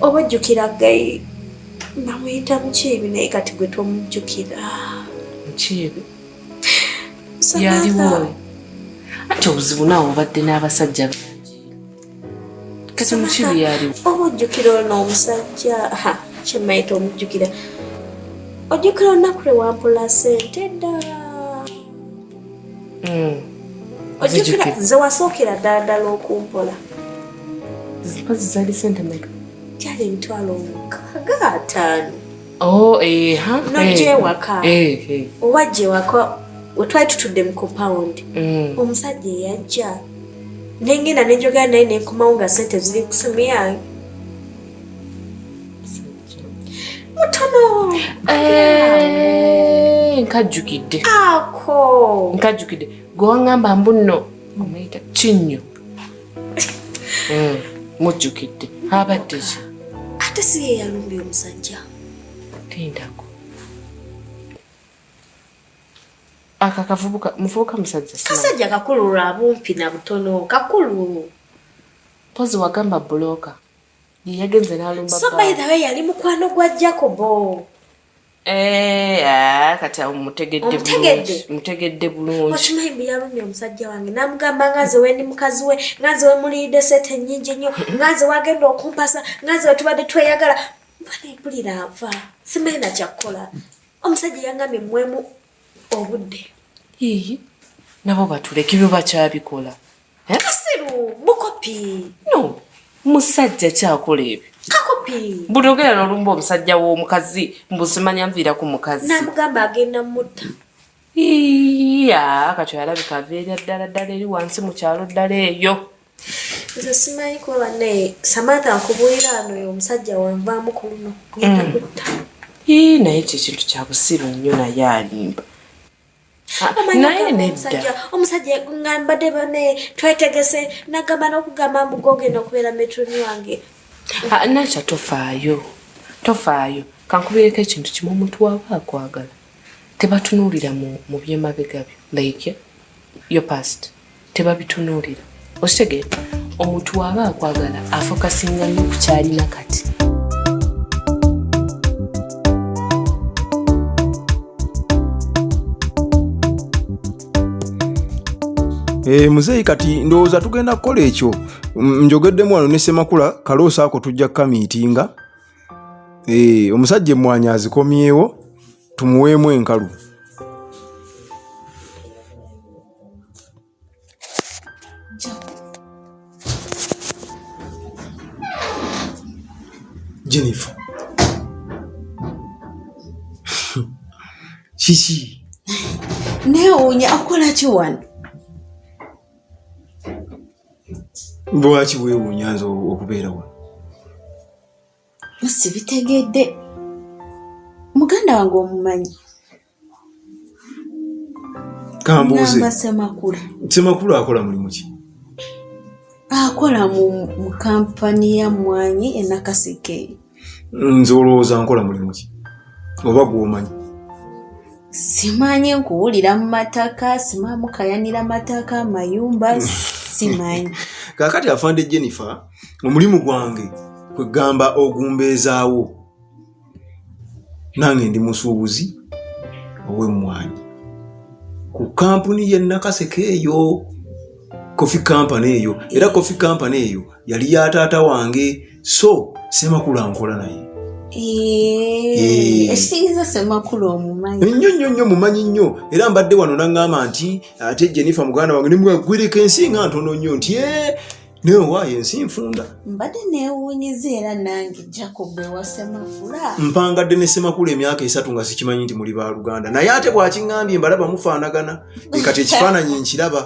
oba ojjukira gayi namuyita mukiibi naye kati gwe tomujjukira mukiibi yaliwo ati obuzibu naawe obadde n'abasajja kati mukibi yaliwo oba ojjukira ono omusajja kyemayita omujjukira ojjukira olunaku lwe wampula sente ddala hmm. ojjukira ze wasookera ddala ddala okumpola mpazi zaali sente meka gyali emitwalo mukaaga ataano oh, nojewaka eh, eh. oba jewaka wetwali tutudde mu compound hmm. omusajja eyajja nengenda nenjogera naye nenkomawo nga sente ziri kusimu yange mutono eh, nkajjukidde ako nkajjukidde gwe waŋŋamba mbu nno omuyita kinnyo hmm, mujjukidde abadde ki ate si ye yalumbye omusajja tindako aka kavubuka muvubuka musajja kasajja kakulu lwa bumpi na butono kakulu pozi wagamba buloka yeyagenze nalumba so by the way yali mukwano gwa jacobo eh, ah, kati awo mutegeddemutegedde bulungi okimanyi mbu yalumya omusajja wange namugamba ngaze wendi mukazi we ngaze wemuliyidde sente nyingi nnyo ngaze wagenda okumpasa ngaze wetubadde tweyagala mbanepulira ava simanyi nakyakukola omusajja yangambye mwemu obudde ii nabo batuleka ebyo bakyabikola eh? kasiru bukopi no musajja kyakola ebyo kakopi buli ogera nolumba omusajja w'omukazi mbuzimanya nviira ku mukazi namugamba agenda mutta iya kati oyalabika aveera ddala ddala eri wansi mu kyalo ddala eyo nze simanyi kuba banaye samantha nkubuulira ano oyo omusajja wanvaamu ku luno kugenda mm. kutta ii naye ekyo ekintu kya busiru nnyo naye alimba naye nedda omusajja nga mbadde banaye twetegese nagamba n'okugamba mbugogenda okubeera metroni wange ah, nakya tofaayo tofaayo kankubireko ekintu kimu omuntu waaba akwagala tebatunuulira mu, mu byemabega byo like your past tebabitunuulira okitegeera omuntu waaba akwagala afokasinga nyo ku kyalina kati Hey, eh, muzeeyi kati ndowooza tugenda kukola ekyo njogeddemu wano ne semakula kaloosa ako tujja kukamiitinga eh, omusajja emmwanyi azikomyewo tumuweemu enkalu jennifer kiki newuunya akolaki wano lwaki weewuunya nze okubeera wano bosi bitegedde muganda wange omumanyi kambuuze semakula semakula akola mulimu ki akola mu kampani ya mmwanyi enakaseke nze olowooza nkola mulimu ki oba gwomanyi simanyi nkuwulira mu mataka simanyi mukayanira mataka mayumba simanyi kakati afande jennifer omulimu gwange kwegamba ogumbeezaawo nange ndi musuubuzi ow'emmwanyi ku kampuni ye nakaseke eyo coffee company eyo era coffee company eyo yali ya taata wange so semakulu ankola naye eh, ekitegeeza semakulu omumanyi nnyo nnyo nnyo mumanyi nnyo era mbadde wano naŋŋamba nti ate jenifa muganda wange nemwagwereka ensi nga ntono nnyo nti e naye owaayo ensi nfunda mbadde newunyiza era nange jacob ewasemakula mpangadde ne semakulu emyaka esatu nga sikimanyi nti muli baluganda naye ate bwakiŋambye mbalaba mufaanagana kati ekifaananyi nkiraba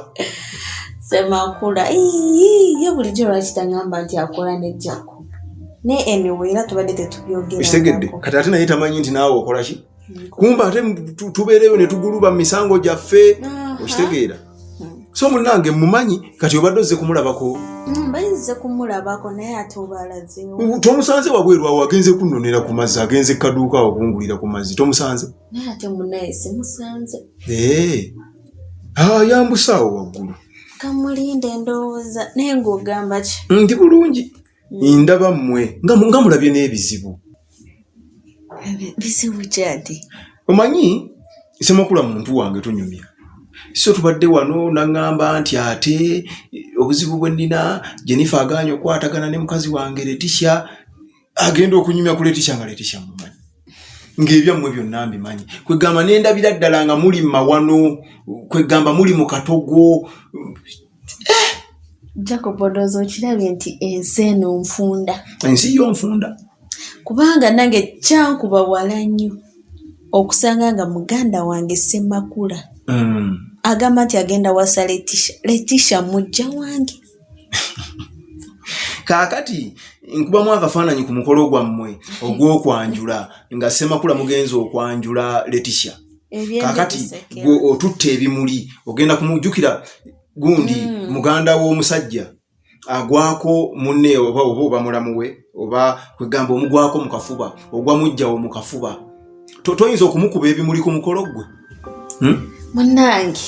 semakula ye bulijjo lwaki tangamba nti akola nejjako ne enewe era tubadde tetubyogerakigedde kati ate naye tamanyi nti naawe okolaki mm. kumba ate tubeereyo ne tuguluba mu misango gyaffe okitegeera so munange mumanyi kati obadde ozze kumulabako mm, bayinze kumulabako naye ate obalazewo tomusanze wabweru awo agenze kunonera ku mazzi agenze kaduuka awo kungulira ku mazzi tomusanze naye ate munaye simusanze eh. ah, yambusaawo waggulu kamulinda endowooza naye ngaogamba ki ndi bulungi hmm. ndaba mmwe nga mulabye n'ebizibu bizibu kyati omanyi semakula muntu wange tunyumya so tubadde wano naŋŋamba nti ate obuzibu bwe nnina jenifa aganya okukwatagana ne mukazi wange letisha agenda okunyumya ku letisha nga letisha mumanyi ngaebyammwe byonna mbimanyi kwegamba nendabira ddala nga muli mawano kwegamba muli mu katogo eh! jacob odooza okirabye nti ensi eno nfunda ensi yo nfunda kubanga nange kyankuba wala nnyo okusanga nga muganda wange semakula mm. agamba nti agenda wasa letisha letisha mujja wange kaakati nkubamu akafaananyi ku mukolo gwammwe ogw'okwanjula nga ssemakula mugenzi okwanjula letisha kaakati gwe otutte ebimuli ogenda kumujjukira gundi mm. muganda w'omusajja agwako munne oba oba oba mulamu we oba kwegamba omugwako mu kafuba ogwa mujjawo mu kafuba toyinza okumukuba ebimuli ku mukolo gwe hmm? munange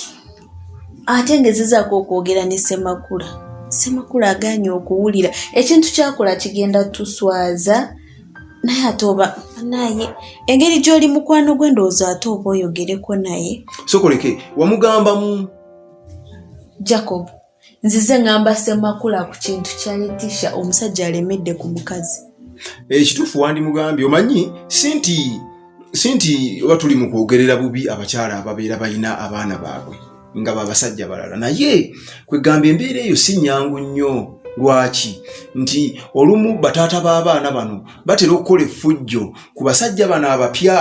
ate ngezezaako okwogera ne semakula semakula aganye okuwulira ekintu kyakola kigenda tuswaza naye ate oba naye engeri gy'oli mukwano gwe ndowooza ate oba oyogereko naye sokoleke wamugambamu jacob nzize ngamba semakula ku kintu kya letisha omusajja alemedde ku mukazi ekituufu eh, wandimugambye omanyi si nti si nti oba tuli mu kwogerera bubi abakyala ababeera balina abaana baabwe nga babasajja balala naye kwegamba embeera eyo si nyangu nnyo lwaki nti olumu bataata b'abaana bano batera okukola effujjo ku basajja bano abapya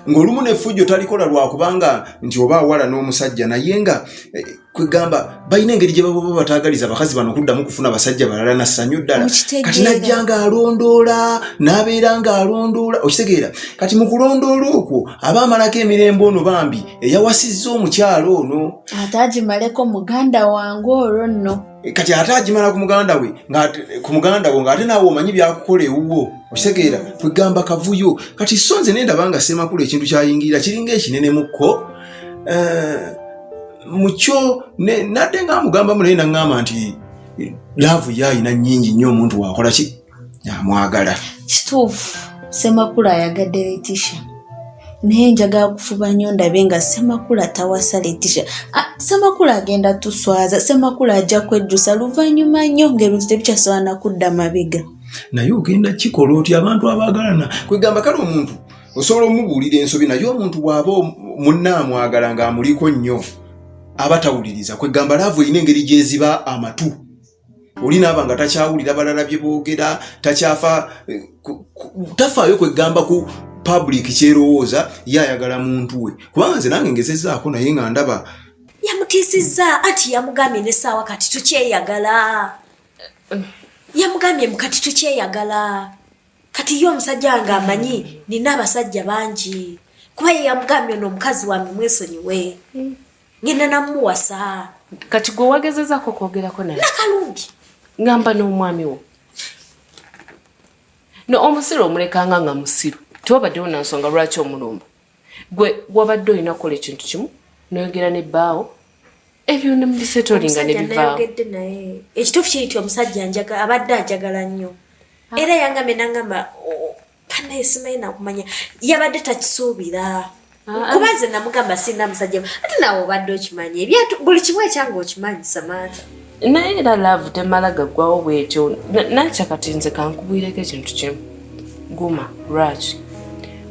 ng'olumu n'effujjo talikola lwakubanga nti oba awala n'omusajja naye nga eh, kwegamba balina engeri gye baba bataagaliza abakazi bano okuddamu kufuna basajja balala na ssanyu ddala kati najja ng'alondoola n'abeera ng'alondoola okitegeera kati mu kulondoola okwo aba amalako emirembe ono bambi eyawasizza omukyalo ono ate agimaleko muganda wange olwo nno eh, kati ate agimala ku muganda we ku muganda wo ng'ate naawe omanyi byakukola ewuwo okitegeera kwegamba kavuyo kati so nze nendaba nga semakulu ekintu kyayingirira kiringa ekinene mukko eh, mukyo nadde nga amugambamu naye naŋŋamba nti laavu ye alina nnyingi nnyo omuntu wakola ki amwagala kituufu semakula ayagadde letisha naye njagala kufuba nnyo ndabe nga semakula tawasa letisha ah, semakula agenda tuswaza semakula ajja kwejjusa luvannyuma nnyo ngaebintu tebikyasobola nakudda mabega naye ogenda kikola oti abantu abaagalana kwegamba kale omuntu osobola omubuulira ensobi naye omuntu bw'aba munna amwagala ng'amuliko nnyo aba tawuliriza kwegamba laavu erina engeri gyeziba amatu oli naaba nga takyawulira balala bye boogera takyafa eh, tafaayo kwegamba ku public kyerowooza ye ayagala muntu we kubanga nze nange ngezezaako naye nga ndaba yamutiisizza anti yamugambye nesaawa kati tukyeyagala yamugambye mukati tukyeyagala kati ye omusajja wange amanyi nina abasajja bangi kuba ye yamugambye ono omukazi wange mwesonyiwe hmm. ngenda namuwasa kati gwe wagezezako okwogerako naye nakalungi ngamba n'omwami wo no omusiru omulekanga nga musiru tewabaddewo na nsonga lwaki omulumba gwe wabadde olina kukola ekintu kimu noyogera ne bbaawo ebyo ne mubisetolinga ne bivaawo ekituufu kiri ti omusajja njaga abadde ajagala nnyo ah. era yangambe nangamba banaye oh, simanyi nakumanya yabadde takisuubira Ah, kuba nze namugamba sirina musajja ate nawe obadde okimanyi buli kimu ekyange okimanyi samantha naye era laavu temala gaggwawo bwetyo nakya kati nze kankubwireko ekintu kimu guma lwaki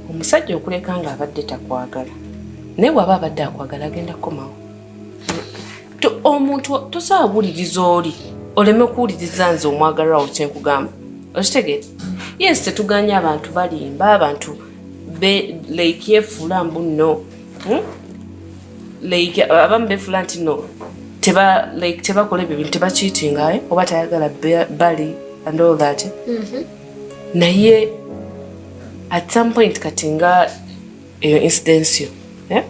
omusajja okuleka nga abadde takwagala naye waba abadde akwagala agenda kukomawo omuntu tosobola kuwuliriza oli oleme kuwuliriza nze omwagalirawo kyenkugamba okitegeera yes tetuganya abantu balimba abantu like yefuula mbu no hmm? like abamu befula nti no teba like tebakola ebyo bintu tebakitinga eh? oba tayagala bali and all that mm-hmm. naye at some point kati nga eyo incidence yo eh?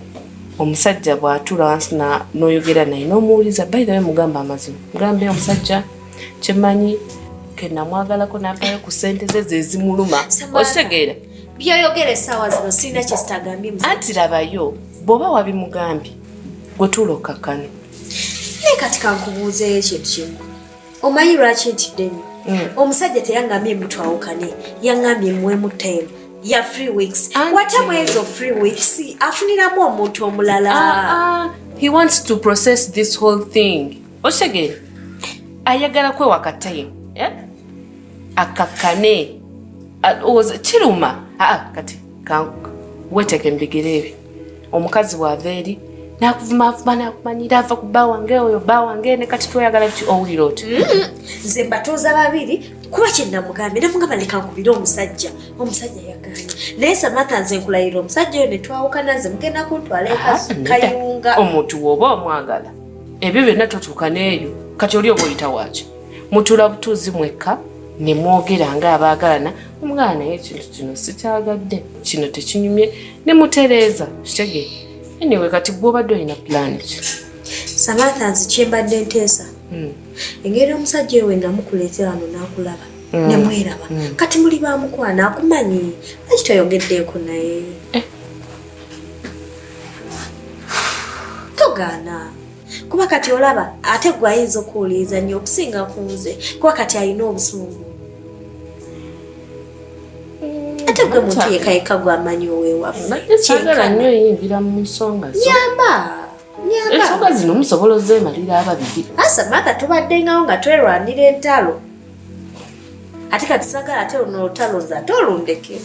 omusajja bwatula wansi noyogera naye nomuwuliza bayithawe mugamba amazima mugambe omusajja kyemanyi kenamwagalako nampayo ku sente ze zezimuluma okitegeera byoyogera esaawa zino sirina kyezitagambye anti labayo bw'oba wabimugambye gwe tuula okkakkane naye kati kankubuuzeeyo ekintu kimu omanyi lwaki ntidde nnyo mm. omusajja teyangambye mutwawukane yangambye muwemu time ya free weeks wata mwezi of free weeks afuniramu omuntu omulala ah, ah. he wants to process this whole thing okitegere ayagala kwewaka time eh? akakkane ah, kiruma kati weteke mbigere ebyo omukazi bwava eri nakuvumaavuma nakumanyira ava ku bba wange oyo bba wange ne kati tweyagala ti owulira oti mm-hmm. nze mbatuuza babiri kuba kyenamugambye namugamba leka nkubire omusajja omusajja yaganye naye samatha nze nkulayira omusajja oyo netwawukana nze mugenda kuntwala ekayunga ah, omuntu woba omwagala ebyo byonna totuuka neeyo kati oli oba oyita waaki mutula butuuzi mwekka ne mwogera nga abaagalana omwana naye ekintu kino sikyagadde kino tekinyumye ne mutereeza kitege anyway kati gwobadde olina pulani ki samantha nzi kyembadde nteesa hmm. engeri omusajja ewe namukuleetera wano n'akulaba hmm. nemweraba hmm. kati muli bamukwana akumanyi lwaki toyogeddeeko naye eh. togaana kuba kati olaba ate gwe ayinza okuwuliriza nnyo okusinga ku nze kuba kati alina obusungu mm, ate gwe muntu yekayeka gwamanyi owewaffe sagala nnyo yingira mu nsonga nyamba ensonga zino musobola ozemalira ababiri asa matha tubaddengawo nga twerwanira entalo ate kati sagala ate luno olutalo nze ate olundeke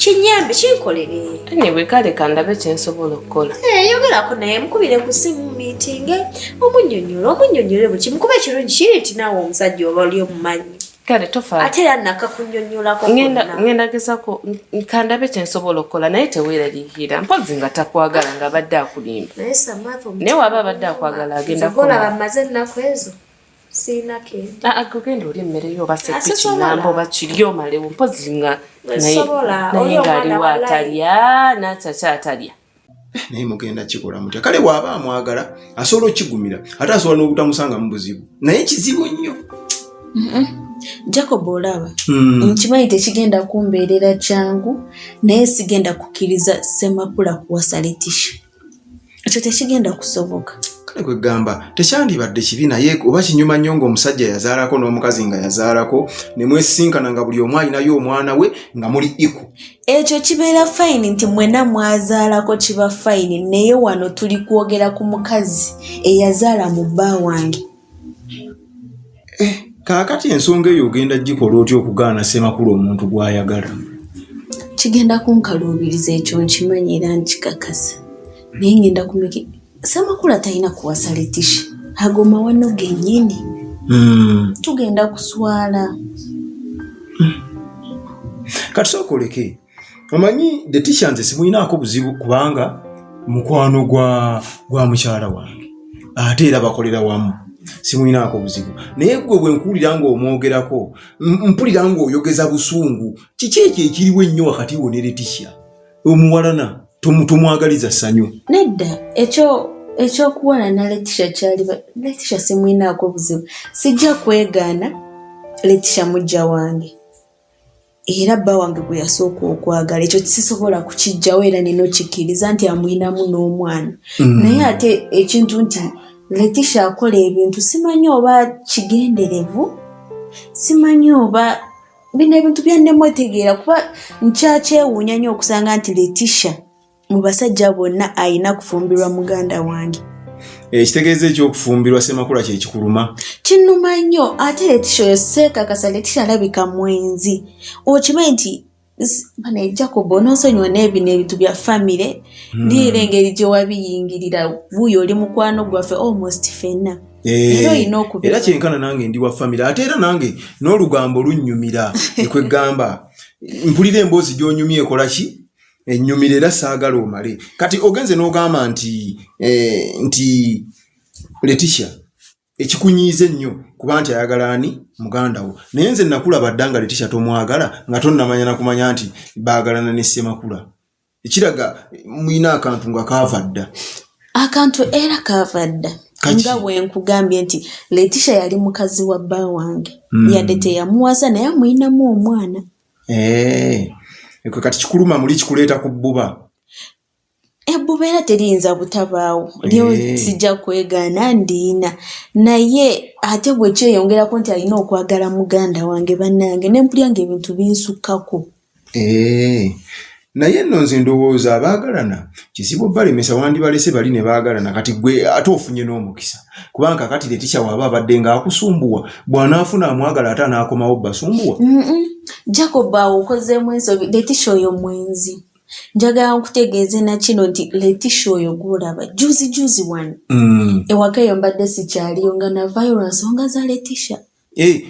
kinyambe kinkolere anyway kale kandabe kyensobola okukola eh, yogerako naye mukubire ku simu mitinge omunyonyola omunyonyole buli kimu kuba ekirungi kiri nti naawe omusajja oba oli omumanyi kale tofa ate era nakakunyonyolako ngenda gezako kandabe kyensobola okukola naye teweeraliikira mpozi nga takwagala nga abadde akulimba naye waba abadde akwagala agenda kolaba maze ennaku ezo sirina kenti ah, ah, genda oli emmere yo basepikinamba oba kiryo omalewo mpozi nga naye ngaaliwo atalya nakyaki atalya eh, naye mugenda kikola mutya kale waaba amwagala asobola okigumira ate asobola n'obutamusanga mu buzibu naye kizibu nnyo jacob olaba hmm. nkimanyi tekigenda kumbeerera kyangu naye sigenda kukkiriza semakula kuwasa letisha ekyo tekigenda kusoboka kale kwegamba tekyandibadde kibi naye oba kinyuma nnyo ngaomusajja yazaalako n'omukazi nga yazaalako ne mwesisinkana nga buli omu alinayo omwana we nga muli iku ekyo kibeera fayini nti mwena mwazaalako kiba fayini naye wano tuli kwogera ku mukazi eyazaala mu bba wange eh, kaakati ensonga eyo ogenda gikola otya okugaana ssemakulu omuntu gw'ayagala kigenda kunkaluubiriza ekyo nkimanyi era nkikakasa naye ngenda kumiki ssemakulu atalina kuwasa letishi ago mawano gennyini hmm. tugenda kuswala hmm. kati sooka oleke omanyi the teachers simuyinaako buzibu kubanga mukwano gwa gwa mukyala wange ate era bakolera wamu simuyinaako buzibu naye gwe bwe nkuwulira nga omwogerako mpulira nga oyogeza busungu kiki ekyo ekiriwo ennyo wakati wo ne letisha omuwalana tomwagaliza ssanyu nedda ekyo ekyokuwala na letisha kyali letisha simuyinaako buzibu sijja kwegaana letisha mujja wange era bba wange gwe yasooka okwagala ekyo sisobola kukijjawo era nina okikkiriza nti amulinamu n'omwana mm. naye ate ekintu nti letisha akola ebintu simanyi oba kigenderevu simanyi oba bino ebintu byannemu etegeera kuba nkyakyewuunya nnyo okusanga nti letisha mu basajja bonna alina kufumbirwa muganda wange ekitegeeza eh, ekyokufumbirwa semakula kyekikuluma kinuma nnyo ate letisha oyo seekakasa letisha alabika mwenzi okimanyi nti bana jacob ononsonyiwa n'ebino ebintu bya famire hmm. ndiira engeri gye wabiyingirira buuyo oli mukwano gwaffe almost fenna Eh, era kyenkana nange ndi wa famire ate era nange n'olugambo lunnyumira ekwegamba mpulira emboozi gy'onyumya ekolaki enyumira era saagala omale kati ogenze n'ogamba nti eh, nti leticia ekikunyiiza ennyo kuba nti ayagala ani muganda wo naye nze nakulaba dda nga leticia tomwagala nga tonnamanya nakumanya nti baagalana ne ssemakula ekiraga mulina akantu nga kaava dda akantu era kaava dda nga wenkugambye nti leticia yali mukazi wa bba wange mm. yadde teyamuwaza naye amulinamu omwana eh, ekwe kati kikuluma muli kikuleeta ku bbuba ebbuba era teriyinza butabaawo lyo eh. sijja kwegaana ndiina naye ate bwe kyeyongerako nti alina okwagala muganda wange bannange nempulya nga ebintu binsukkako eh, naye nno nze ndowooza abaagalana kizibu balemesa wandibalese bali ne baagalana kati gwe ate ofunye n'omukisa kubanga kakati letisha waaba abadde ng'akusumbuwa bw'anaafuna amwagala ate anaakomawo basumbuwa jacob awo okozeemu ensobi letisha oyo mwenzi njagala nkutegeeze nakino nti letisha oyo gwolaba juzi juzi wani mm. ewaka eyo mbadde sikyaliyo nga navayo lwa nsonga za letisha Eh,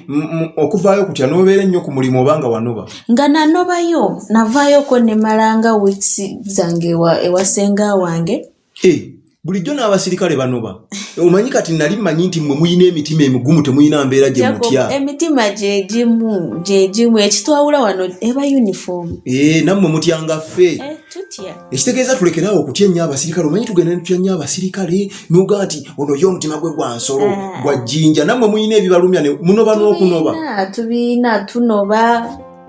okuvaayo kutya nobeera ennyo ku mulimu oba nga wanoba nga nanobayo navaayo ko nemalanga weeks zange ewasenga wange eh, bulijjo n'abasirikale banoba omanyi kati nali manyi nti mwe muyina emitima emigumu temuyina mbeera gye mutya emitima gyegimu gyegimu ekitwawula wano eba uniform eh, nammwe mutyanga ffe ekitegeeza tulekeraawo okutya ennyo abasirikale omanyi tugenda netutya nnyo abasirikale noga nti ono ye omutima gwe gwa nsolo ah. gwa jjinja nammwe mulina ebibalumya munoba n'okunoba tubiina tunoba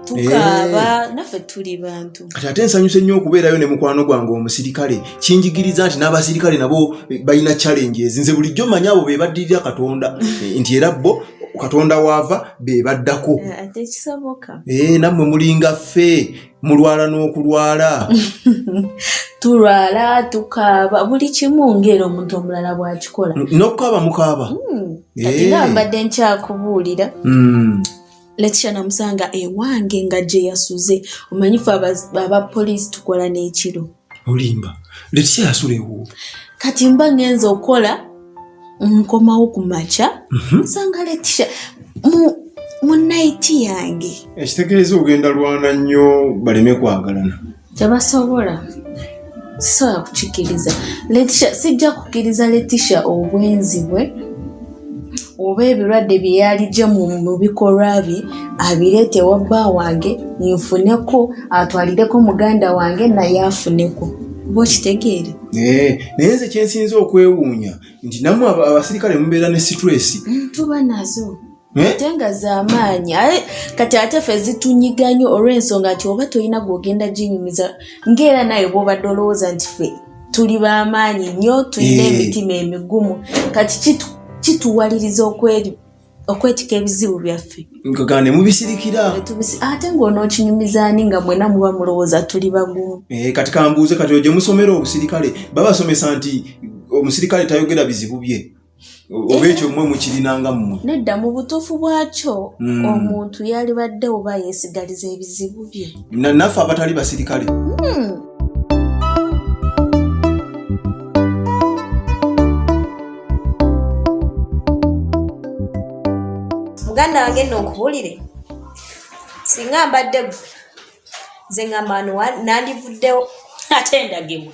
tukaaba eh. naffe tuli bantu kati ate nsanyuse nnyo okubeerayo ne mukwano gwange omusirikale kinjigiriza nti n'abasirikale nabo eh, balina challenges nze bulijjo manyi abo be baddirira katonda eh, nti era bo katonda waava be baddako ate kisoboka nammwe mulinga ffe mulwala n'okulwala tulwala tukaaba buli kimu ngaera omuntu omulala bwakikola nokukaaba mukaaba hmm, eh. ati nga mbadde nkyakubuulira hmm. letisha namusanga ewange nga gyeyasuze omanyifu abapoliisi tukola n'ekiro olimba letiya yasula ewuwo kati mba ngenza okola nkomawo ku makya mhm. nsanga letisha mu naiti yange ekitegeeza ogenda lwana nnyo baleme kwagalana tebasobola sisobola kukikiriza letisha sijja kukiriza letisha obwenzi bwe oba ebirwadde bye yaligye mu bikolwa bye abireete ewa bba wange nfuneko atwalireko muganda wange naye afuneko oba okitegeere eh, naye nze kyensinza okwewuunya nti namwe abasirikale mubeera ne situlesi mm, tuba nazo Eh? ate nga zamaanyi aye kati ate fe zitunyiga nyo olwensonga nti oba tolina gwogenda ginyumiza ngaera naye bwobadde olowooza nti fe tuli bamaanyi nnyo tulina emitima emigumu kati kituwaliriza okweri okwetika ebizibu byaffe nkagamba ne mubisirikira ate ng'onookinyumiza ani nga mwena muba mulowooza tuli bagumu eh, kati kambuuze kati oje musomera obusirikale babasomesa nti omusirikale tayogera bizibu bye oba ekyo mwe mukirinanga mmwe nedda mu butuufu bwakyo hmm. omuntu yalibadde oba yeesigaliza ebizibu bye naffe abatali basirikale hmm. muganda wange nno nkubulire singa mbadde gwe nze ngamba nandivuddewo ate ndagibwa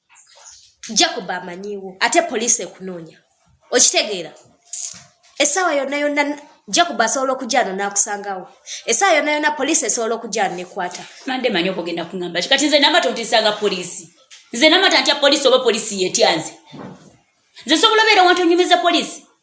jacob amanyiwo ate poliisi ekunoonya okitegeera essaawa yonna yonna jacob asobola okujano nakusangawo essaawa yonna yonna poliisi esobola okujano nekwata mande manyi okugenda kuŋamba ki kati nze namata ontisanga poliisi nze namata ntya poliisi oba poliisi yetyanze nze sobola obeera wantu onyumiza poliisi